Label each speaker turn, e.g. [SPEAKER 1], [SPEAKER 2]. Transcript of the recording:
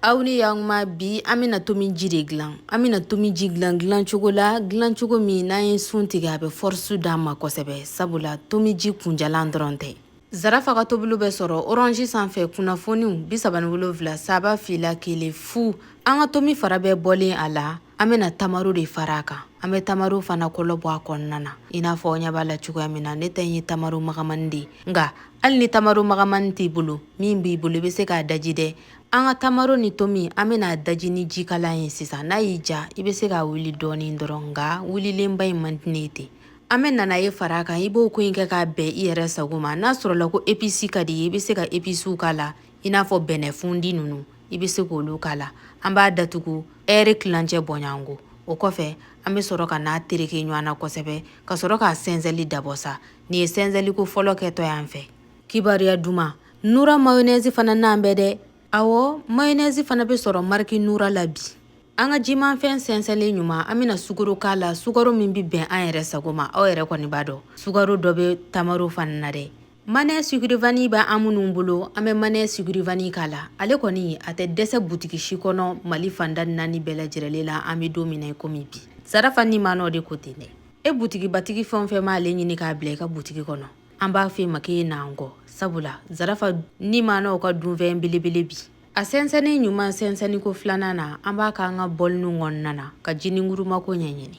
[SPEAKER 1] aw ni y'an ma bi an bɛna tomi ji de dilan an bɛna tomi ji dilan dilan cogo la dilan cogo min n'an ye sun tigɛ a bɛ fɔrisi d'an ma kosɛbɛ sabula tomi ji kunjalan dɔrɔn tɛ zarafa ka tobiliw bɛ sɔrɔ orange sanfɛ kunnafoniw bi saba ni wolonfila saba fila kelen fu an ka tomi fara bɛɛ bɔlen a la an bɛna tamaro de fara a kan an bɛ tamaro fana kolo bɔ a kɔnɔna na i n'a fɔ ɲɛ b'a la cogoya min na ne ta ye tamaro magamani de ye nka hali ni tamaro magamani t'i bolo min b'i bolo i bɛ se k'a daji dɛ an ka tamaro ni tomi an bɛn'a daji ni jikalan ye sisan n'a y'i diya i bɛ se k'a wuli dɔɔnin dɔrɔn nka wulilenba in man di ne ye ten an bɛ nanaye fara a kan i b'o ko in kɛ k'a bɛn i yɛrɛ sago ma n'a sɔrɔla ko episi ka di i bɛ se ka episiw k'a la i n'a fɔ bɛnɛfunti ninnu i bɛ se k'olu k'a la an b'a datugu ɛɛri tilancɛ bɔɲɔgɔnko o kɔfɛ an bɛ sɔrɔ ka n'a tereke ɲɔgɔn na kosɛbɛ ka sɔrɔ k'a sɛnsɛli dabɔ sa nin ye sɛnsɛliko fɔlɔ kɛtɔ y'an fɛ kibaruya duman nura mayonnaise fana n'an bɛ dɛ awɔ mayonnaise fana bɛ sɔrɔ mariki nura la bi an ka jimafɛn sɛnsɛnlen ɲuman an bɛna sukaro k'a la sukaro min bɛ bɛn an yɛrɛ sago ma aw yɛrɛ kɔni b'a dɔn sukaro dɔ bɛ tamaro fana na dɛ manɔ sugurivani bɛ an minnu bolo an bɛ manɔ sugurivani k'a la ale kɔni a tɛ dɛsɛ butigi si kɔnɔ mali fan naani bɛɛ lajɛrɛlen la an bɛ don min na komi bi zarafa ni manɔ de ko ten dɛ e butigibatigi fɛn o fɛn b'ale ɲini k'a bila i ka butigi kɔnɔ an b'a fɛ ma ye n'an kɔ sabula zarafa ni manɔ ka dunfɛn belebele bi a sɛnsɛnni ɲuman sɛnsɛnni ko filanan na an b'a k'an ka bɔli ninnu kɔnɔna na ka jinin kuruma ko ɲɛɲini